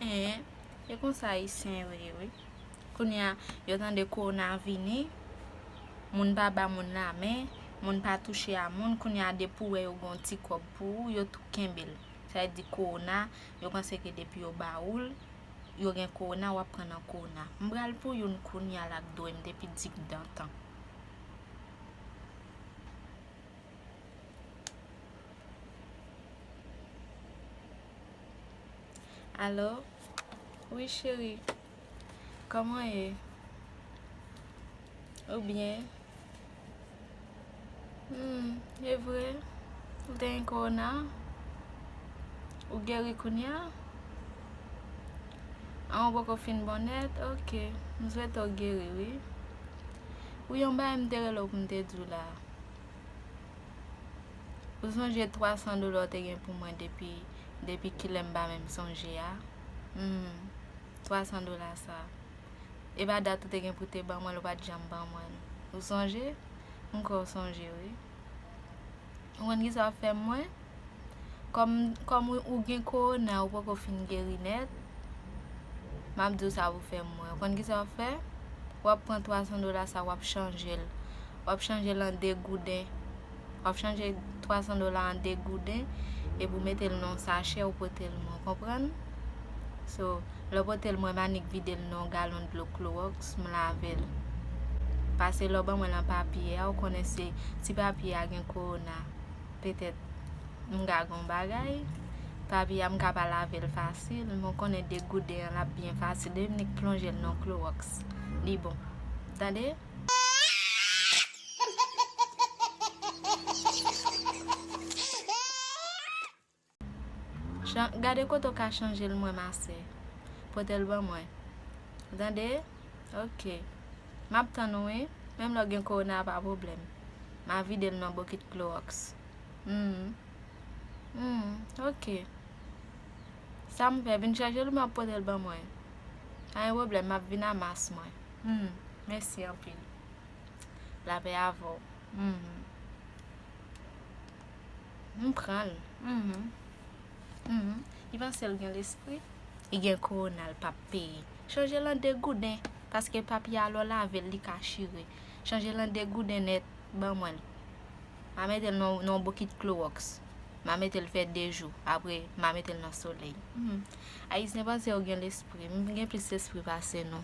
Eeh e konsa ayisyen yo ye wi Kounya yo tande kowona vini moun pa ba moun la men moun pa touche a moun kounya depi ou wè yo gen yon ti kòb pou ou yo tou kenbe l sa vle di kowona yo panse ke depi yo ba ou l yo gen kowona wap pran nan kowona m pral pou youn kounya lap dwe m depi digdantan. Allo wi cheri kòman ye ou byen e vre ou gen korona ou geri kounya an ou poko fin bon nèt ok m swete ou geri wi ou yon bagay m te rele w pou m te di w la Ou sonje 300 dola w te gen pou mwen depi kilè m pa menm sonje a? Hum, 300 dola sa. E pa dat ou te gen pou w te ban mwen l ou pa t janm ban mwen l. Ou sonje? M kwè w sonje wi. Ou konn kisa w fè mwen? Kòm kòm ou gen korona ou poko fin geri nèt, map di w sa pou fè mwen. Ou konn ki sa wap fè? Wap pran 300 dola sa wap chanje l. Wap chanje l an 2 gouden. Wap chanje 300 dola an 2 gouden epi ou mete l nan yon sachè ou pote l mwen. Ou konprann? So, lè w pote l mwen m annik vide l nan yon galon dlo klowòks m lave l. Pase lè w ban mwen lan papye a ou konnen se ti papye a gen korona. petèt m ka gen yon bagay, papi a m ka pa lave l fasil, men w konnen degouden an l ap byen fasil, depi m nik plonje l nan yon klowòks, li bon. Tande! Chan gade kote w ka chanje l mwen ma sè. Pote l ban mwen. Ou tande? Ok. M ap tann ou wi. Menm lè w gen kowona pa pwoblèm. M a vide l nan bokit klowòks. Hum. Hum. Ok. Sa m fè? Vin chanje l oubyen w ap pote l ban mwen? Pa gen pwoblèm, m ap vin a mas mwen. Hum. Mèsi anpil. Lapè avè w. Hum. M pranl uhmm uhmm li pansel gen lespri li gen korona li pap peye chanje l an de gouden paske papye a lè w lavel li ka chire chanje l an de gouden nèt ban mwen l ma metel nan yon bokit kloroks ma metel fè de jou apre ma metel nan solèy uhmm ayisyen panse yo gen lespri m gen plis lespri pase nou.